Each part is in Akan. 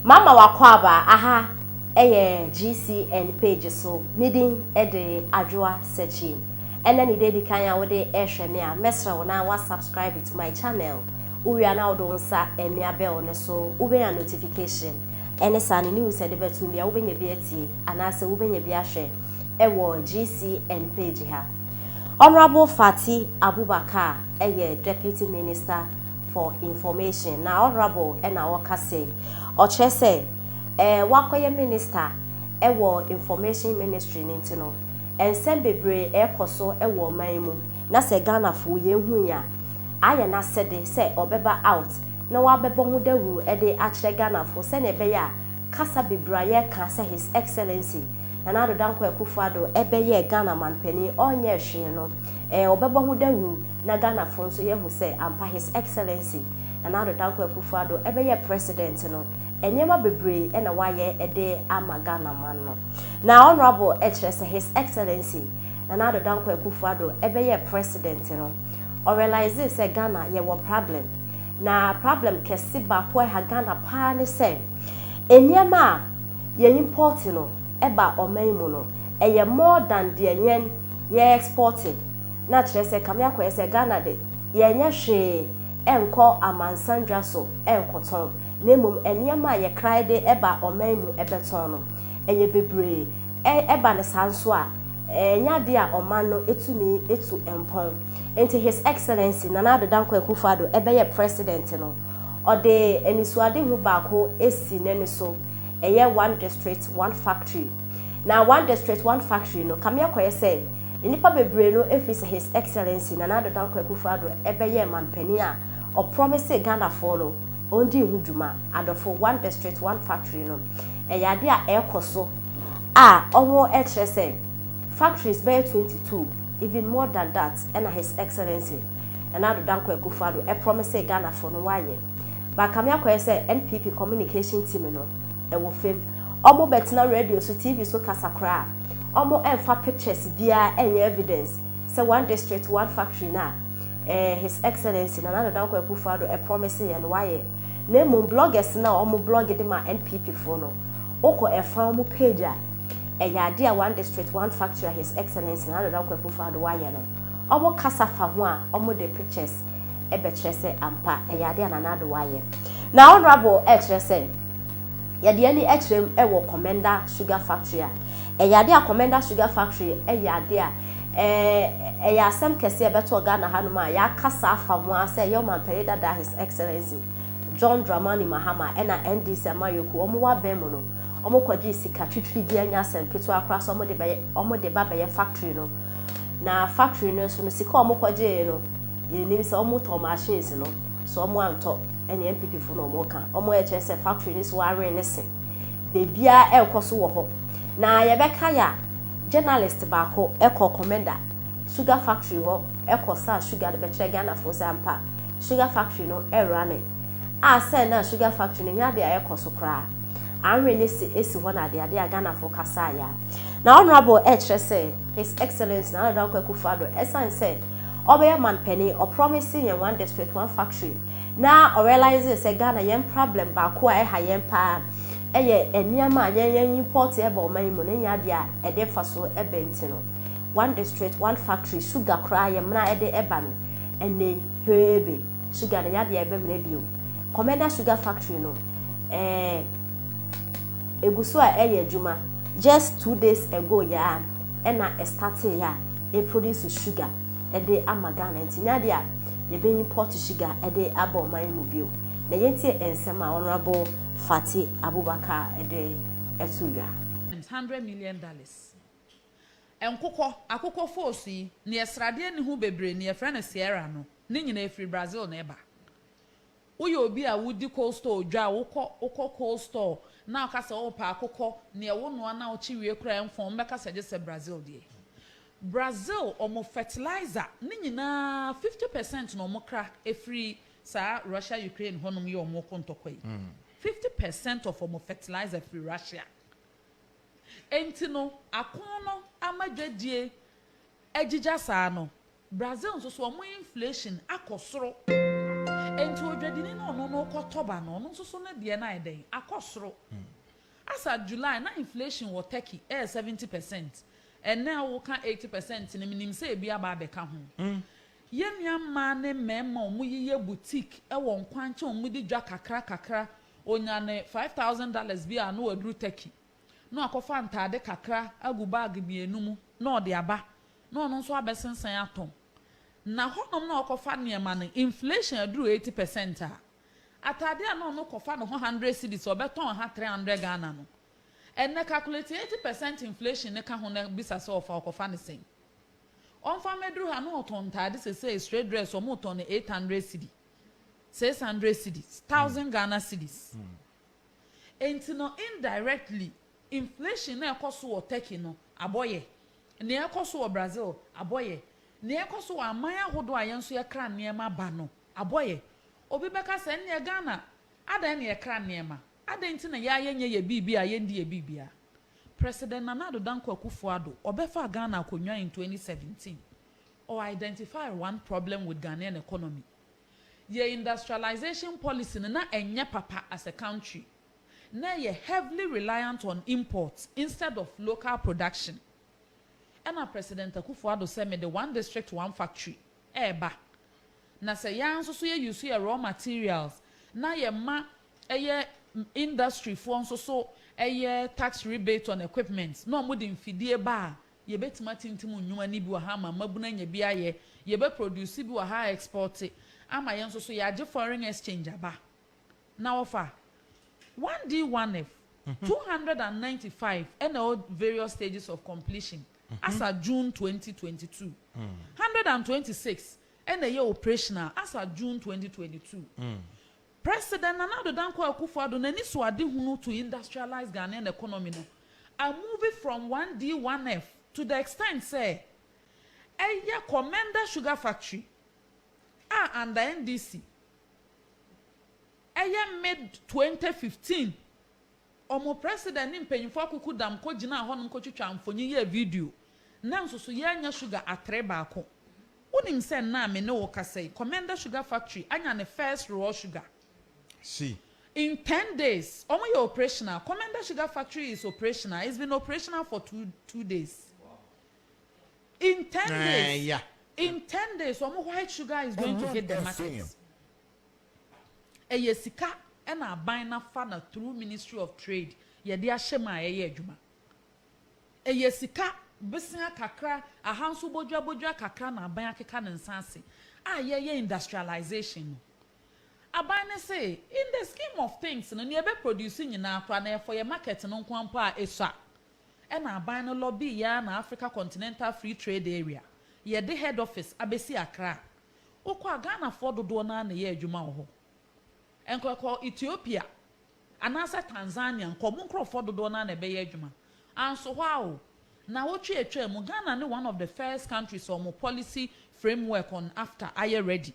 Mama w'akwaaba aha ɛyɛ GCN page so, me din de Adwoa Sekyie. Ɛnɛ ne da edi kan a wode ɛrehwɛ me a, mɛsrɛ wo na wa subscribe to my channel. Wo wie a na wode wo nsa ɛmia bell no so, wo bɛnya notification. Ɛne saa no news a yɛde bɛto mu biara wo bɛnya bi atie anaasɛ wo bɛnya bi ahwɛ ɛwɔ GCN page ha. Honourable Fati Abubakar ɛyɛ Deputy Minister for information na honourable na ɔka sei ɔkyerɛ sɛ ɛɛ wakɔyɛ minister ɛwɔ information ministry no nti no ɛnsɛm bebree ɛɛkɔ so ɛwɔ ɔman yi mu na sɛ Ghanafoɔ yɛn hu yi a ayɛ n'asɛde sɛ ɔbɛba out na wabɛbɔ ho dawuro ɛde akyerɛ Ghanafoɔ sɛdeɛ ɛbɛyɛ a kasa bebree a yɛɛka sɛ his excellency Nana Addo Dankwa Akufo Addo ɛbɛyɛɛ Ghana manpanin ɔnyɛɛ hwee no ɛɛ ɔbɛbɔ ho dawuro. na Ghanafo nso yɛahu sɛ ampa His Excellency Nana Addo Dankwa Akufo Addo bɛyɛ President no, nneɛma bebree na wayɛ de ama Ghanaman no. Na Honourable kyerɛ sɛ His Excellency Nana Addo Dankwa Akufo Addo bɛyɛɛ President no, ɔrealisee sɛ Ghana yɛwɔ problem, na problem kɛse baako a ɛha Ghana paa ne sɛ, nneɛma a yɛ import no ba ɔman mu no, ɛyɛ more than deɛ yɛn yɛ export. na kyerɛ sɛ kame akɔyɛ sɛ Ghana de, yɛnyɛ hwee nkɔ amansan dwa so nkɔtɔn, na mmom nneɛma a yɛkra de ba ɔman mu bɛtɔn no, ɛyɛ bebree. Ɛba no saa nso a, ɛnyɛ adeɛ a ɔman no tumi tu mpɔn. Nti His Excellency Nana Addo Dankwa Akufo Addo bɛyɛ President no, ɔde anisoadehu baako asi n'ani so, ɛyɛ One District, One Factory. Na One District, One Factory no, kame akɔyɛ sɛ, Nnipa bebree no firi sɛ His Excellency Nana Addo Dankwa Akufo-Addo bɛyɛɛ manpanin a, ɔprɔmisee Ghanafoɔ no ɔndii ho dwuma. Adɔfo, One District, One Factory no, ɛyɛ adeɛ a ɛrekɔ so a wɔkyerɛ sɛ factories bɛyɛ twenty two, even more than that, ɛna His Excellency Nana Addo Dankwa Akufo-Addo prɔmisee Ghanafoɔ no wɔayɛ. But Kame akɔyɛ sɛ NPP communication team no wɔ fam. Wɔbɛtena radio so, TV so kasa koraa a, Ɔmo ɛnfa pictures biaa ɛnyɛ evidence sɛ one district one factory no a ɛɛ His Excellency Nana Addo Dankwa Akufo Addo ɛpromise yɛn no wayɛ. Na mmom bloggers no a ɔmo blogge de ma NPP foɔ no, wokɔ ɛfa ɔmo page a, ɛyɛ adeɛ a one district one factory a His Excellency Nana Addo Dankwa Akufo Addo wayɛ no, ɔmo kasa fa ho a ɔmo de pictures ɛbɛkyerɛ sɛ ampa ɛyɛ adeɛ a Nana Addo wayɛ. Na Honourable ɛɛkyerɛ sɛ, yɛde ani ɛkyerɛ mu ɛwɔ Commenda Sugar Factory a. Ɛyɛ adeɛ a Commenda Sugar Factory yɛ adeɛ a ɛyɛ asɛm kɛseɛ a ɛbɛtɔɔ Ghana ha nom a yɛakasa afa ho ara sɛ ɛyɛ Ɔmampanin dada His Excellency John Dramani Mahama ɛna NDC amanyɔkuo a wɔwɔ abɛn mu no wɔkɔgyee sika twitwiri bi ɛnyɛ asɛm ketewa koraa sɛ wɔde bɛyɛ wɔde ba bɛyɛ factory no na factory no nso no sika a wɔkɔgyee no yɛnim sɛ wɔtɔɔ machines no so wɔantɔ ɛne NPP fo na wɔka wɔn a ɛkyerɛ sɛ factory no si wɔawɛn ne se. biribiara ɛrekɔ so wɔ hɔ. Na yɛbɛka yɛ a, journalist baako kɔɔ Komenda sugar factory hɔ kɔ saa sugar no bɛkyerɛ Ghanafoɔ sɛ ampa sugar factory no running. A sɛn na sugar factory no nyɛ adeɛ a ɛrekɔ so koraa. Anwene no si si hɔ na adeade a Ghanafoɔ kasaa yɛ a. Na Honourable ɛrekyerɛ sɛ His Excellency Nana Dankwa Akufo-Addo ɛsiane sɛ ɔbɛyɛ manpanin, ɔpromise yɛn one district, one factory. Na ɔ realisee sɛ Ghana yɛn prablɛm baako a ɛha yɛn paa yɛ nneɛma a yɛn yɛn impɔɔte ba ɔman yi mu na ɛnyɛ adeɛ a ɛde mfasoɔ ba nti no. One district, one factory, sugar koraa yɛmena ɛde ba no ɛnnɛ yi heebe, sugar no ɛnyɛ adeɛ a yɛbɛmena bio. Kɔmɛnda sugar factory no ɛɛ ɛgu so a ɛyɛ adwuma, just two days ago yi ara ɛna ɛstarteeɛ a ɛproduce sugar ɛde ama Ghana nti ɛnyɛ adeɛ a yɛbɛyi Port Sugar de aba ɔman yi mu bio, na yɛntie nsɛm a Honourable Fati Abubakar de to dwa. hundred million dollars nkokɔ, akokɔ foosu yi, neɛ sradeɛ nni ho bebree, neɛ yɛfrɛ no Sierra no, ne nyinaa firi Brazil na ɛba. Woyɛ obi a wodi cold store dwa a, wokɔ wokɔ cold store na woka sɛ wopɛ akokɔ, nea wonoa na wokye wie koraa a ɛmfɔn, wɔbɛka sɛ gye sɛ Brazil deɛ. Brazil, wɔn fertilizer ne nyinaa fifty percent na wɔkra firi saa Russia Ukraine hɔnom yɛ wɔn ko ntɔkwa yi. Fifty percent of wɔn fertilizer firi Russia. Enti no, ako no ama dwadie agyigya saa no, Brazil nso so wɔn inflation akɔ soro. Enti odwadini no ɔno no kɔ tɔba no ɔno nso so ne deɛ no ayɛ dɛn? Akɔ soro. As at July na inflation wɔ Turkey ɛyɛ seventy percent. Ɛnnɛ a wo ka eighty percent no me nim sɛ ebi aba abɛka ho. Yɛn nua mmaa ne mmarima a wɔyi yɛ boutique ɛwɔ nkwankyɛn a wɔn de dwa kakra kakra ɔnya ne five thousand dollars bi a na waduru Turkey. na wakɔfa ntade kakra agu bag mmienu mu na ɔde aba, na ɔno nso abɛsensɛn atɔn. Na hɔnom na ɔkɔfa nneɛma no, inflation aduru eighty percent a, atade a na ɔno kɔfa ne ho hundred cedis, ɔbɛtɔn ɛha three hundred Ghana no, ɛnnɛ calculate eighty percent inflation no ka ho na bisa sɛ ɔfa ɔkɔfa no sɛn? Ɔmfa mmɛduru ha na ɔtɔn ntade seesei straight dress wɔtɔn no eight hundred cedi, six hundred cedis, thousand Ghana cedis. Enti no indirectly, inflation no a ɛkɔ so wɔ Turkey no abɔ yɛ, nea ɛrekɔ so wɔ Brazil abɔ yɛ, nea ɛrekɔ so wɔ aman ahodoɔ a yɛn nso yɛkra nneɛma ba no abɔ yɛ. Obi bɛka sɛ, Ɛnneɛ Ghana, adɛn na yɛkra nneɛma? Adɛn nti na yɛa yɛnyɛ yɛ biribi a yɛndi yɛ biribi a? President Nana Addo Dankwa Akufo-Addo, ɔbɛfaa Ghana akonnwa in 2017, ɔ identified one problem with Ghanaian economy, Yɛ industrialization policy no na ɛnyɛ papa as a country. Na ɛyɛ heavily reliant on import instead of local production. Ɛna President Akufo Addo sɛ me de one district one factory ɛɛba. Na sɛ yɛa nso so yɛ use yɛ raw materials na yɛ ma ɛyɛ industry foɔ nso so ɛyɛ tax rebate on equipment na ɔmo de mfidie ba a Yɛbɛtumi atintim nnwuma no bi wɔ ha ama mmabunu anya bi ayɛ, yɛbɛ produce bi wɔ ha a export ama yɛn nso so yɛagye foreign exchange aba na wɔfa one D one F two hundred and ninety five ɛna ɛwɔ various stages of completion as at June twenty twenty two hundred and twenty six ɛna ɛyɛ operational as at June twenty twenty two. President Nana Addo Dankwa Akufo-Addo n'ani so adehunu to industrialise Ghanaian economy no a move from 1D 1F to the extent sɛ ɛyɛ kɔ Menda Sugar Factory a under NDC ɛyɛ mid twenty fifteen. Wɔn president ne mpanyimfo akoko dam kogyinaa hɔnom kotwitwaa mfonyin yɛɛ video. Ná nsusuwii anya sugar atere baako. Wunim sɛ nnɛ a me ne wo rekasa yi, Komenda Sugar Factory anya ne first raw sugar? Si. In ten days, wɔyɛ operational. Komenda Sugar Factory is operational. It's been operational for two, two days. In ten days, in ten days, wɔn white sugar is going to hit the market. Ɛyɛ sika na aban no afa na through ministry of trade yɛde ahyɛ mu a ɛyɛ adwuma. Ɛyɛ sika bosea kakra, ahanso bodwa bodwa kakra na aban akeka ne nsa ase a yɛyɛ industrialisation no. Aban no se in the scheme of things no nea ɛbɛ produce nyinaa koraa no ɛyɛ for yɛn market no nkoa mpo a ɛsua. Ɛna aban no lobby yɛn ara na Africa Continental Free Trade Area yɛde head office abɛsi Accra Wokɔ a, Ghanafoɔ dodoɔ no ara na ɛyɛ adwuma wɔ hɔ. Nkɔ kɔ Ethiopia anaasɛ Tanzania nkɔ, mo nkorɔfoɔ dodoɔ no ara na ɛbɛyɛ adwuma. Anso hɔ ara o, nnawɔtwe a atwaa mu, Ghana ne one of the first countries a wɔn policy framework on AfCFTA ayɛ ready.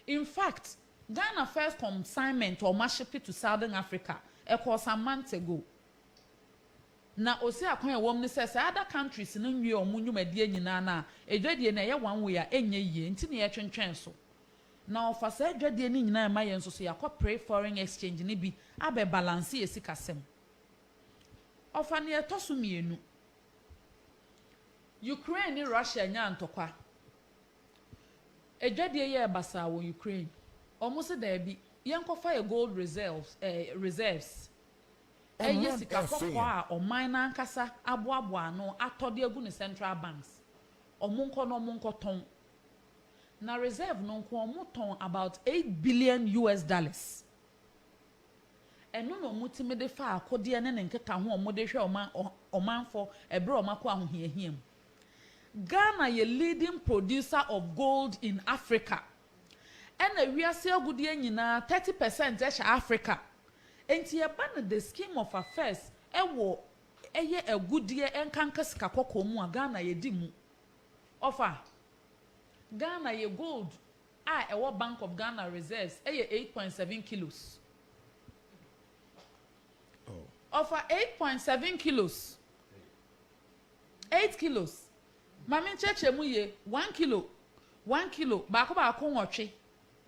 In fact, Ghana first consignment a wɔahyepe to Southern Africa, ɛkɔɔ some months ago. Na ose akwan a ɛwom ne sɛ saa other countries no nwie wɔn nnwumadie nyinaa no a, adwadie no ɛyɛ one way a ɛnyɛ yie, nti na yɛtwentwɛn so. Na wɔfa saa adwadie no nyinaa ɛma yɛn nso so yɛakɔ pre foreign exchange no bi abɛ balance yɛn sikasɛm. Ɔfa nea ɛtɔ so mmienu, Ukraine ne Russia nyaa ntɔkwa, adwadie yɛɛ basaa wɔ Ukraine, wɔn se daabi, yɛnkɔfa yɛn gold reserves, reserves. Ɛyɛ sika kɔkɔɔ a ɔman no ankasa aboaboa ano atɔ de agu ne central banks. Wɔnkɔ na wɔnkɔtɔn. Na reserve no nko wɔtɔn about eight billion US dollars. Ɛno na wɔtumi de fa akodeɛ ne ne nkekaho a wɔde hwɛ wɔn ɔmanfɔ ɛberɛ a wɔakɔ ahohiahia mu. Ghana yɛ leading producer of gold in Africa. Ɛna wiase agudeɛ nyinaa thirty percent hyɛ Africa. Nti ɛba no the scheme of affairs wɔ ɛyɛ agudeɛ ɛnkanka sika kɔkɔɔ mu a Ghana yɛdi mu. Ɔfa Ghana yɛ gold a ɛwɔ bank of Ghana reserves ɛyɛ eight point seven kilos. Ɔfa eight point seven kilos, eight kilos. Ma menkyerɛkyerɛ mu yie, one kilo, one kilo, baako baako nwɔtwe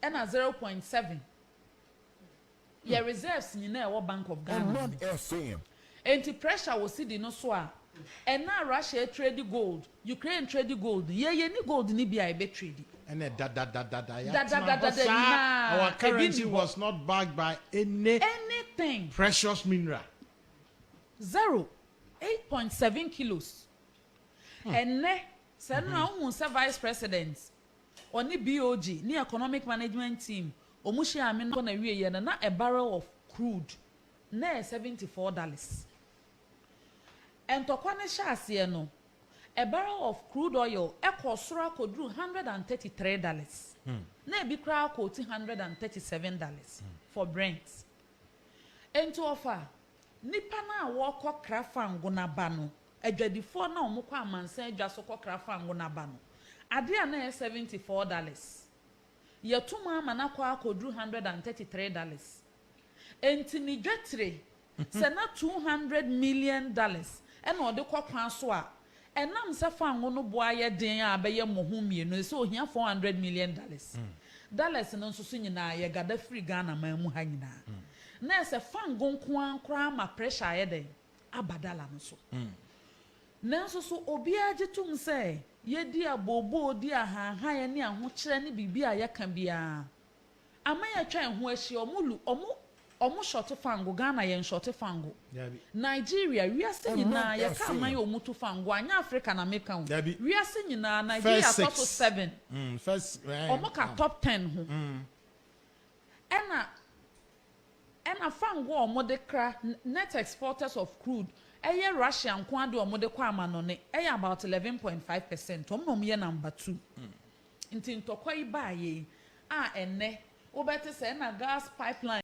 ɛna zero point seven yɛ reserves nyinaa ɛwɔ bank of Ghana mu. Ɛnti pressure wɔ cedi no so a ɛna Russia ɛtredi gold, Ukraine tredi gold no, yɛ yɛnni gold no bi a yɛbɛ tredi. Ɛnɛ dadadadada yɛatena hɔ saa, our currency was not backed by any precious mineral. Zero, eight point seven kilos. Ɛnnɛ, sɛ nnora wohu sɛ Vice President, ɔne BOG, ne Economic Management Team, wɔn hyia amena kɔ n'awieɛ no, na a barrel of crude na ɛyɛ seventy four dollars. Ntɔkwa no hyɛ aseɛ no, a barrel of crude oil kɔɔ soro akɔduru one hundred and thirty three dollars, na ebi koraa kɔɔti one hundred and thirty seven dollars for Brent. Enti wɔfa nnipa no a wɔrekɔ kra fango no aba no Adwadifoɔ no a wɔkɔ amansan adwa so kɔkra fango no aba no, adeɛ a na ɛyɛ seventy four dollars, yɛato mu ama no akɔ akɔduru one hundred and thirty three dollars. Enti ne dwatire, sɛ na two hundred million dollars na ɔde kɔ kwan so a, ɛnam sɛ fango no bo ayɛ den a abɛyɛ mmɔho mmienu no, sɛ ɔhia four hundred million dollars. Dollars no nso so nyinaa, yɛgada firi Ghanaman mu ha nyinaa. Na ɛsɛ fango nko ara koraa ma pressure ayɛ dɛn? abadala no so. Nanso so obiara gye tom sɛ yedi abooboo, di ahanhan ne ahokyerɛ ne biribi a yɛka biara? Aman a atwa yɛn ho ahyia, wɔn lu, wɔn, wɔn shɔte fango, Ghana yɛn shɔte fango, Nigeria, wiase nyinaa, yɛka aman a wɔtu fango a, nyɛ Afrika na meka o, wiase nyinaa, Nigeria tɔ so seven, wɔka top ten ho. ɛna ɛna fango a wɔde kra, net exporters of crude, ɛyɛ Russia nko ara de a wɔde kɔ amanɔne ɛyɛ about eleven point five percent, wɔn na wɔyɛ number two. Nti ntɔkwa yi baeɛ yi a ɛnnɛ wobɛte sɛ ɛna gas pipeline.